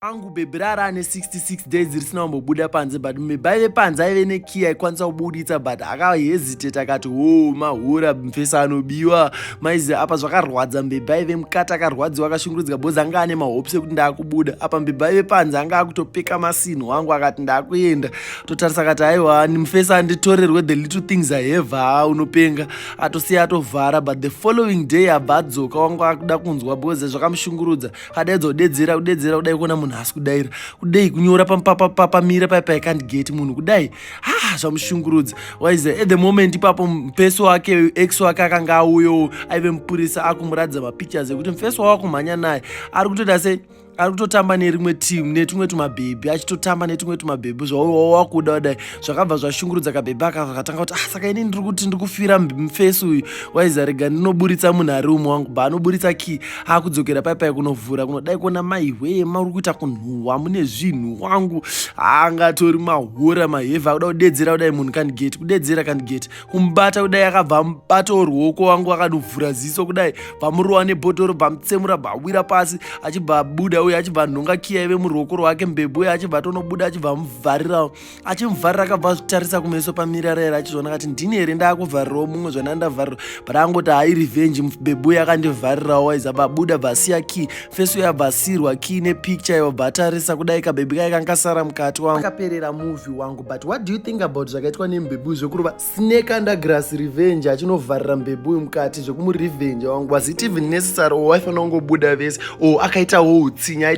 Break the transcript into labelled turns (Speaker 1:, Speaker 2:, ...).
Speaker 1: angu bhebhi rara ane 66 days risina kumbobuda panze but mibha ive panze aive nekey aikwanisa kubuditsa but akaheziteta akati hoo mahura mfesa anobiwa maizi apa zvakarwadza mbebhi aive mukati akarwadziwa akashungurudzika bozi anga ane mahopes ekuti ndaakubuda apa mbebhi aive panze anga akutopeka masinhu wangu akati ndaakuenda totarisa akati aiwa mfesa anditorerwe the little things ahevaa unopenga atosiya atovhara but the following day abva adzoka wangu akuda kunzwa bozi zvakamushungurudza padaidzo dedzera kudedzera kudai kuona munhu haasi kudaira kudai kunyora papamira pai paikandi gate munhu kudai ha ah, zvamushungurudza waize at the moment ipapo mfesi wake ex wake akanga auyowo aive mupurisa akumuratidza mapictures ekuti mfesi wavo akumhanya naye ari kutoita sei ari kutotamba nerimwe team netumwe tumabhebhi achitotamba netumwe tumabhebhi zvawawakuda wadai zvakabva zvashungurudza kabhebha aka vakatanga kuti ah saka ini ndiri kuti ndiri kufira mufesi uyu waiza rega ndinoburitsa munhu ari umwe wangu bva anoburitsa key akudzokera pai pai kunovhura kunodai kuona maihwee mauri kuita kunhuhwa mune zvinhu wangu angatori mahora mahevha akuda kudedzera kudai munhu kandigeti kudedzera kandigeti kumubata kudai akabva amubatawo ruoko wangu akanovhura ziso kudai bvamurowa nebhodhoro bvamutsemura bvawira pasi achibva abuda uye achibva anhonga kiya ive muruoko rwake mbebwe achibva tonobuda achibva amuvharirawo achimuvharira akabva azvitarisa kumeso pamirara here achizvona kati ndini here ndaakuvharirawo mumwe zvana ndavharira but angoti hai revenge bebuye akandivharirawo waiza babuda bvasiya key feso yabvasirwa key nepicture ivo bvatarisa kudai kabebi kaye kankasara mukati wangu akaperera muvi wangu but what do you think about zvakaitwa nembebuyu zvekurova snake undergrass revenge achinovharira mbebuyu mukati zvekumurevenge wangu was it even necessary or waifanira kungobuda vese or akaitawo utsinye